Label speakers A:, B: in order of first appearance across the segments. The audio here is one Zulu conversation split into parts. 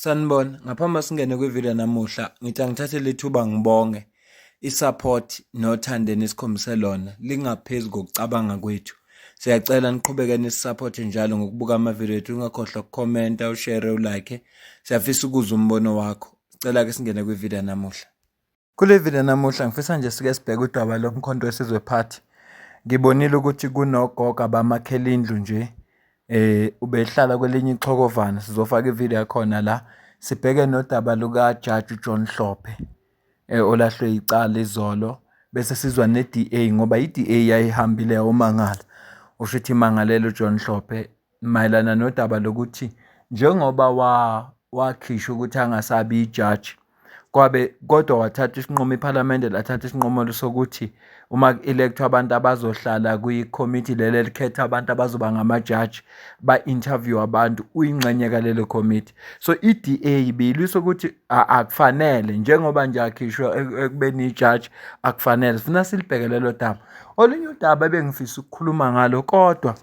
A: Sanibona, ngaphambi singene kwivideo namuhla ngithi angithathe lethuba ngibonge i-support nothando enikhombise lona lingaphezu kokucabanga kwethu. Siyacela niqhubeke nisi-support njalo ngokubuka amavideo ethu ungakhohlwa ukukhomenta, ushare, ulike. Siyafisa ukuzwa umbono wakho. Sicela-ke singene kwivideo namuhla. Kule video namuhla ngifisa nje sike sibheke udaba lomkhonto wesizwe party. Ngibonile ukuthi kunogogo abamakhela indlu nje eh ubehlala kwelinye ichokovana sizofaka ivideo yakhona la sibheke nodaba luka Judge uJohn Hlophe eh olahlwe icala izolo bese sizwa neDA ngoba iDA yayihambile yawumangala usho ukuthi imangalelo John Hlophe mayelana nodaba lokuthi njengoba wakhishwa ukuthi angasabi ijaji kwabe kodwa wathatha isinqumo iphalamende lathatha isinqumo sokuthi uma ku-elect-wa abantu abazohlala kwikhomithi leli elikhetha abantu abazoba ngamajaji ba-interview abantu uyingxenye kalelo khomithi so i-DA beyilwisa ukuthi akufanele njengoba nje akhishwa ekubeni ijaji akufanele sifuna silibheke lelo daba olunye udaba ebengifisa ukukhuluma ngalo kodwa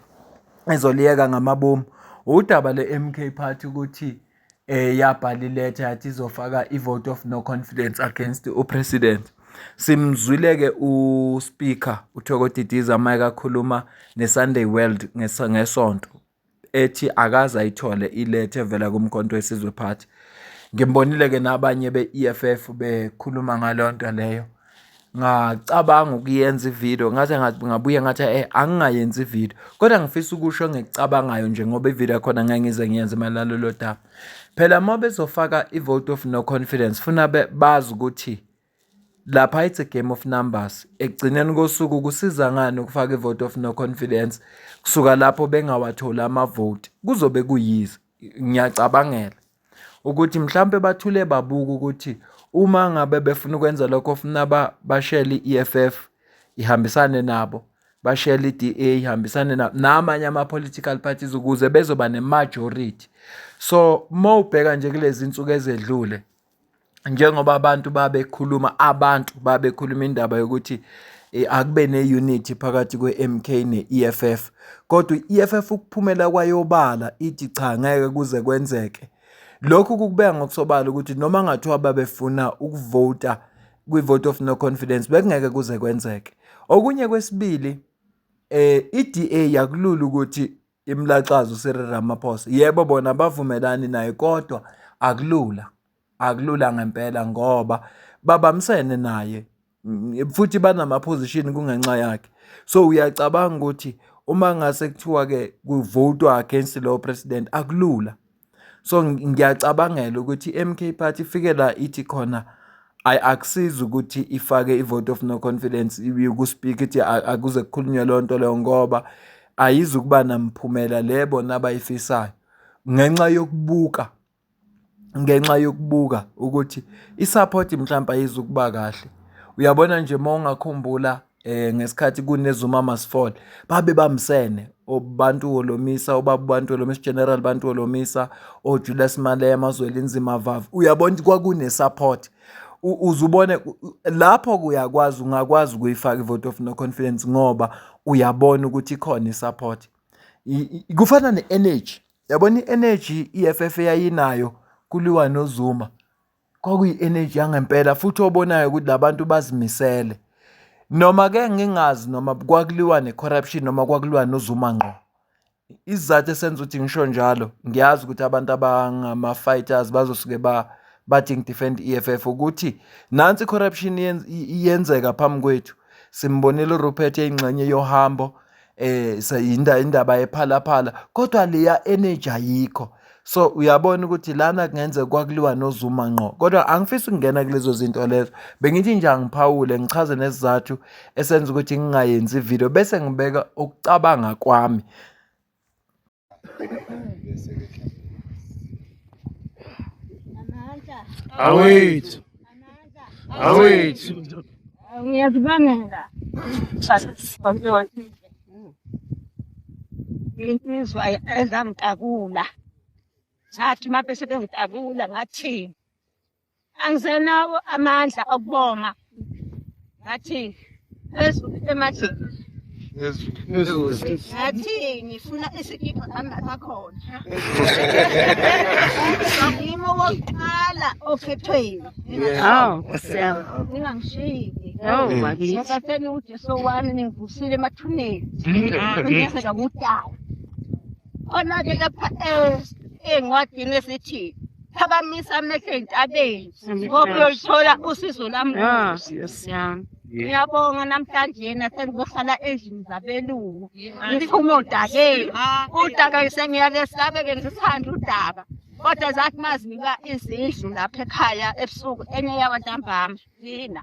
A: ezoliyeka ngamabomu udaba le-MK Party ukuthi eh yabhala iletha yathi izofaka i-vote of no confidence against upresident simzwile-ke uspeaker uthoko didiza mike akhuluma ne-sunday world ngesonto ethi akaze ayithole iletha evela kumkhonto wesizwe party ngimbonile-ke nabanye be-eff bekhuluma ngaleyo nto leyo ngacabanga ukuyenza ividiyo ngathi ngabuye ngathi e angingayenzi ividiyo kodwa ngifisa ukusho engikucabangayo nje ngoba ividiyo yakhona ngeke ngize ngiyenze mayelana lolo daba phela uma bezofaka i-vote of no confidence funa bazi ukuthi lapha it's a game of numbers ekugcineni kosuku kusiza ngani ukufaka i-vote of no confidence kusuka lapho bengawatholi amavoti kuzobe kuyize ngiyacabangela ukuthi mhlawumbe bathule babuka ukuthi uma ngabe befuna ukwenza lokho funa bashele i-EFF ihambisane nabo bashele i-DA ihambisane nabo namanye ama-political parties ukuze bezoba ne-majority so uma ubheka nje kulezi nsuku ezedlule njengoba abantu babekhuluma abantu babekhuluma indaba yokuthi eh, akube ne-unity phakathi kwe-MK ne-EFF kodwa i-EFF ukuphumela kwayobala ithi cha ngeke kuze kwenzeke lokhu kukubeka ngokusobala ukuthi noma ngathiwa babefuna ukuvota kwi-vote of no confidence bekungeke kuze kwenzeke okunye kwesibili eh i-DA yakulula ukuthi imlaxaza uCyril Ramaphosa yebo bona bavumelani naye kodwa akulula akulula ngempela ngoba babamsene naye mm, futhi banamaphozishini kungenxa yakhe so uyacabanga ukuthi uma ngase kuthiwa-ke kuvotwa against lowo president akulula So ngiyacabangela ukuthi i-M_K party ifike la ithi khona ayi akusizi ukuthi ifake i-vote of no confidence kuSpeaker ithi akuze kukhulunywe leyo nto leyo ngoba ayizukuba namphumela le bona abayifisayo ngenxa yokubuka ngenxa yokubuka ukuthi i-support mhlawumbe ayizukuba kahle. Uyabona nje uma ungakhumbula eh ngesikhathi kunezuma masifall babe bamsene obantu olomisa obaba bantu olomisa general bantu olomisa oJulius Malema Zwelinzima Vavu uyabona ukuthi kwakune support uzubone lapho kuyakwazi ungakwazi ukuyifaka ivote of no confidence ngoba uyabona ukuthi ikhona isupport kufana ne-energy yabona i-energy i-eff eyayinayo kuliwa nozuma kwakuyi-energy yangempela futhi obonayo ukuthi labantu bazimisele noma ke ngingazi noma kwakuliwa ne-corruption noma kwakuliwa nozuma ngqo isizathu esenza ukuthi ngisho njalo ngiyazi ukuthi abantu abangama-fighters bazosuke ba bathi ngidefend i-EFF ukuthi nansi i-corruption iyenzeka phambi kwethu simbonile uRupert eyingxenye yohambo eh sayinda indaba yephalaphala kodwa leya energy ayikho so uyabona ukuthi lana kungenzeka kwakuliwa nozuma ngqo kodwa angifisi ukungena kulezo zinto lezo bengithi nje angiphawule ngichaze nesizathu esenza ukuthi ngingayenzi ivideo bese ngibeka ukucabanga kwami
B: awethu awethu
C: ngiyazibangela insizwa ezangitakula ngathi uma bese bengitakula ngathini angisenawo amandla okubonga ngathi phezulu emajini ngathi ngifuna isikipha ambatha khona ngimo wokuqala okhethweni aw siyabonga ningangishiyile Oh, bakithi. Ngisatheni uJesu wami ningivusile emathuneni. Ngiyeza ngudala. Khona-ke lapha eh, encwadini esithi phakamisa amehlo entabeni ngoba uyolithola usizo lami Ah, kude. yes, yeah. Ngiyabonga namhlanje nasengizohlala endlini zabelungu ngiphume odakeni udaka sengiyake sabeke ngisithanda udaka kodwa zathi mazinika izindlu lapha ekhaya ebusuku enye yabantambami thina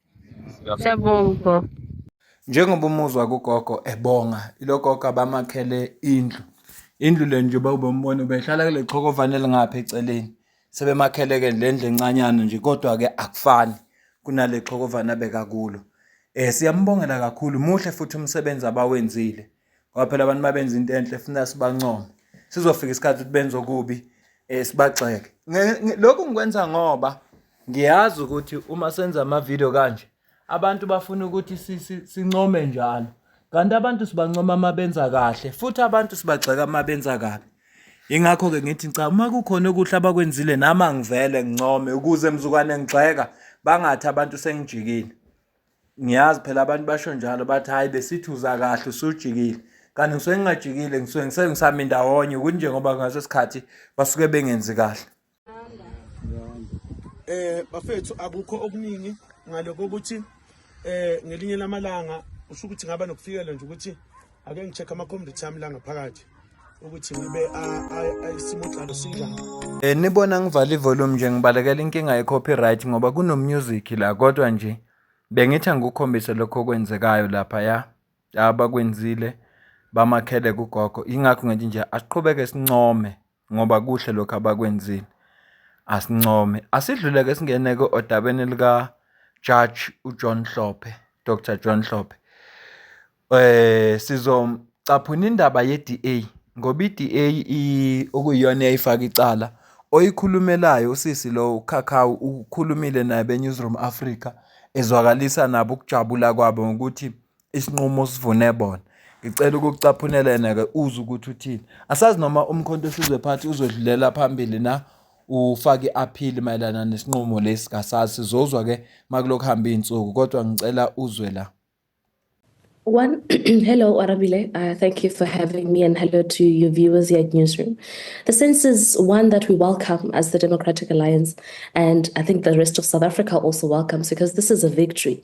C: Siyabonga.
A: Njengoba umuzwa kugogo ebonga ilogogo abamakhele indlu. Indlu le nje uba ubombona ubehlala kule chokovane elingapha eceleni. Sebemakhele-ke le ndlu encanyana nje kodwa-ke akufani kunale chokovane abeka kulo. Eh siyambongela kakhulu muhle futhi umsebenzi abawenzile. ngoba phela abantu mabenza into enhle funa sibancome sizofika isikhathi ukuthi benze okubi eh sibagxeke lokhu ngikwenza ngoba ngiyazi ukuthi uma senza ama video kanje abantu bafuna ukuthi sincome njalo kanti abantu sibancoma uma benza kahle futhi abantu sibagxeka uma benza kabi ingakho-ke ngithi cha uma kukhona okuhle abakwenzile nami angivele ngincome ukuze mzukwane ngigxeka bangathi abantu sengijikile Ngiyazi phela abantu basho njalo bathi hhayi besithi uza kahle usujikile kanti ngisuke ngingajikile ngisuke ngise ngisami ndawonye ukuthi njengoba ngaso sikhathi basuke bengenzi kahle
B: eh bafethu akukho okuningi ngaloko ukuthi eh ngelinye lamalanga usho ukuthi ngaba nokufikela nje ukuthi ake ngicheck amakhompyutha yami la ngaphakathi ukuthi ngibe isimotlalo sinjani eh nibona
A: ngivala ivolume nje ngibalekela inkinga ye-copyright ngoba kunomusic la kodwa nje bengithi angikukhombise lokho okwenzekayo lapha ya abakwenzile bamakhele kugogo yingakho ngithi nje asiqhubeke sincome ngoba kuhle lokhu abakwenzile. Asincome. Asidlule-ke singene-ke odabeni likaJudge uJohn Hlophe, Dr John Hlophe. Eh sizocaphuna indaba ye-DA ngoba i-DA okuyiyona eyayifaka icala oyikhulumelayo usisi lo uKhakhawu ukhulumile naye beNewsroom Africa ezwakalisa nabo ukujabula kwabo ngokuthi isinqumo osivune bona ngicela ukucaphunela yena-ke uze ukuthi uthini asazi noma umkhonto wesizwe phathi uzodlulela phambili na ufake i-aphili mayelana nesinqumo lesi kasazi sizozwa-ke makulokhu hamba iy'nsuku kodwa ngicela uzwe la One,
D: hello, Arabile. Uh, thank you for having me, and hello to your viewers here at Newsroom. The sense is one that we welcome as the Democratic Alliance, and I think the rest of South Africa also welcomes because this is a victory.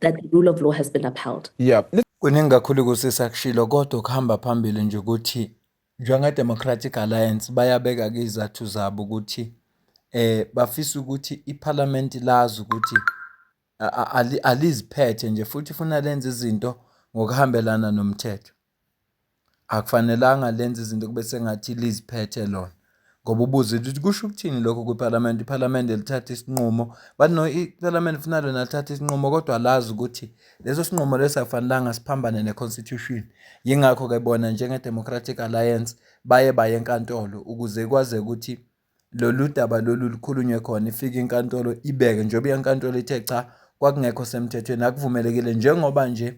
D: that the rule of law has been upheld. Yeah. Kuningi kakhulu
A: kusisa kushilo kodwa ukuhamba phambili nje ukuthi njengeDemocratic Alliance bayabeka-ke izathu zabo ukuthi eh bafisa ukuthi iphalamenti lazi ukuthi aliziphethe nje futhi funa lenze izinto ngokuhambelana nomthetho. Akufanelanga lenze izinto kube sengathi liziphethe lona ngoba ubuze ukuthi kusho ukuthini lokho kwiphalamende, iphalamende lithathe isinqumo iphalamende funa lona lithathe isinqumo kodwa lazi ukuthi leso sinqumo leso akufanelanga siphambane ne-constitution. Yingakho-ke bona njenge-Democratic Alliance baye baye enkantolo ukuze kwazi ukuthi lolu daba lolu lukhulunywe khona, ifike inkantolo ibeke njengoba inkantolo ithe cha kwakungekho semthethweni akuvumelekile njengoba nje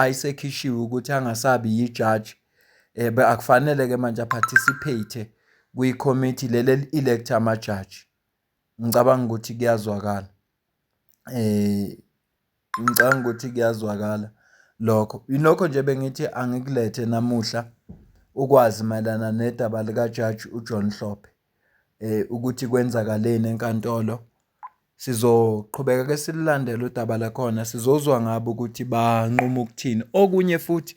A: ayisekhishiwe ukuthi angasabi yijaji ebe akufanele-ke manje a-participate-e kwikhomithi leli eli-elektha amajaji. Ngicabanga ukuthi kuyazwakala ngicabanga ukuthi kuyazwakala lokho. Yilokho nje bengithi angikulethe namuhla ukwazi mayelana nedaba likajaji uJohn Hlophe ukuthi kwenzakaleni enkantolo. Sizoqhubeka ke silulandele udaba lakhona sizozwa ngabo ukuthi banquma ukuthini. Okunye futhi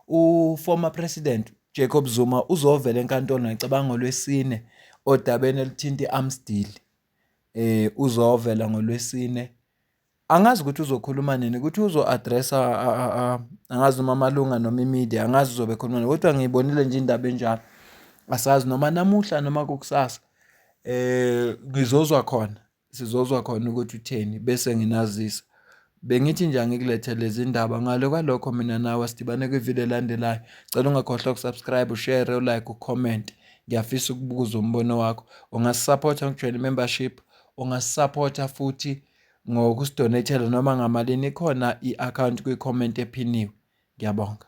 A: u-former president Jacob Zuma uzovela enkantolo ngicabanga ngolwesine odabeni elithinta i-arms deal. Eh uzovela ngolwesine. Angazi ukuthi uzokhuluma nini ukuthi uzo-addressa angazi noma amalunga noma imedia angazi uzobe ekhuluma nini kodwa ngiyibonile nje indaba enjalo. Asazi noma namuhla noma kukusasa. eh ngizozwa khona sizozwa khona ukuthi utheni bese nginazisa bengithi nje angikulethe lezi ndaba ngale kwalokho mina nawe sidibane kwivideo elandelayo cela ungakhohlwa ukusubscribe ushare ulike ucomment ngiyafisa ukubuza umbono wakho ungasisapotha ngokujoyina i-membership ungasisapotha futhi ngokusidonethela noma ngamalini ikhona i-akhawunti kwi-comment ephiniwe ngiyabonga